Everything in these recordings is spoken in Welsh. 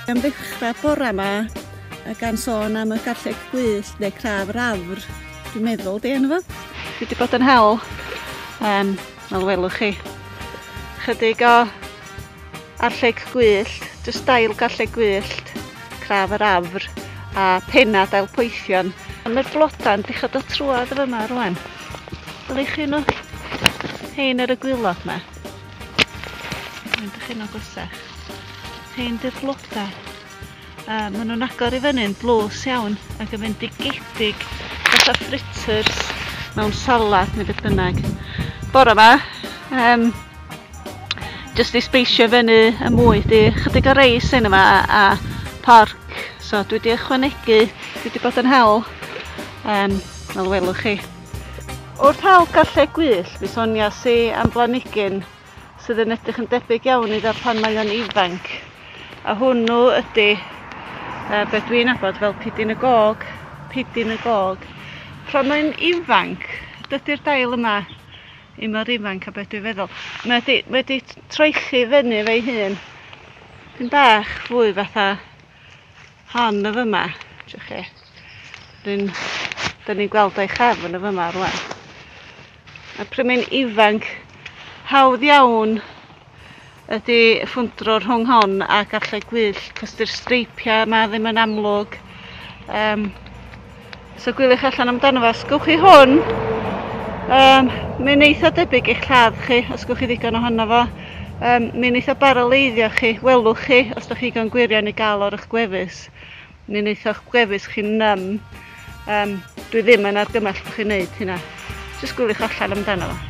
Am ddechrau bora yma, a gan sôn am y garlleg gwyllt neu craf yr afr, dwi'n meddwl di enw fo. Dwi wedi bod yn hel, um, fel welwch chi, chydig o Arlleg gwyllt, jyst dail garlleg gwyllt, craf yr afr a penna dail poethion. Mae'r blodau'n dechrau dod trwad y fyma rwan. Ble chi nhw? Hein ar y gwylod yma. Mae'n dechrau nhw gwasach. Hein dy'r blodau. A maen nhw'n agor i fyny'n dlws iawn ac yn fendigedig fatha fritters mewn salad neu beth bynnag. Bore yma, um, jyst i speisio fyny y mwy, di chydig o reis yn yma a porc. So dwi wedi ychwanegu, dwi wedi bod yn hel, um, fel welwch chi. Wrth hel gallu gwyllt, mi sonia si am blanigyn sydd yn edrych yn debyg iawn iddo pan mae o'n ifanc. A hwnnw ydy uh, beth dwi'n abod fel pidyn y gog, pidyn y gog. Pan mae'n ifanc, dydy'r dail yma i mor ifanc a beth dwi'n feddwl. Mae wedi, wedi troelli fyny fe'i hun. Pyn bach fwy fatha Hon y fyma, dych chi. Ryn, dyn ni'n gweld o'i chefn y fyma rwan. A prymu'n ifanc, hawdd iawn ydy ffwndro rhwng hon a garlleg gwyll, cos dy'r streipiau yma ddim yn amlwg. Um, Os so, gwyliwch allan amdano fo, os gwch chi hwn, um, mae'n eitha debyg i'ch lladd chi, os gwch chi ddigon ohono fo. Um, mae'n eitha baraleiddio chi, welwch chi, os da chi gan gwirion i gael o'r eich gwefus. Mae'n eitha eich gwefus chi'n nym. Um, dwi ddim yn argymell bod chi'n neud hynna. Jyst gwyliwch allan amdano fo.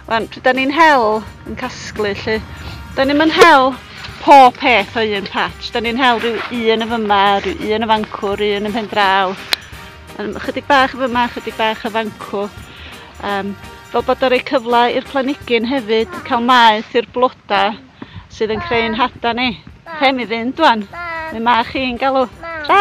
Wan, pryd da ni'n hel yn casglu lly, da ni'n mynd hel pob peth o un patch. Da ni'n hel rhyw un y fyma, rhyw un y fancwr, rhyw un y pen draw. Um, chydig bach y fyma, chydig bach y fancw. Um, fel bod o'n rhoi cyfle i'r planigyn hefyd cael maeth i'r blodau sydd yn creu'n hada ni. Rhe mi fynd dwan. Mi mae chi'n galw. Tra!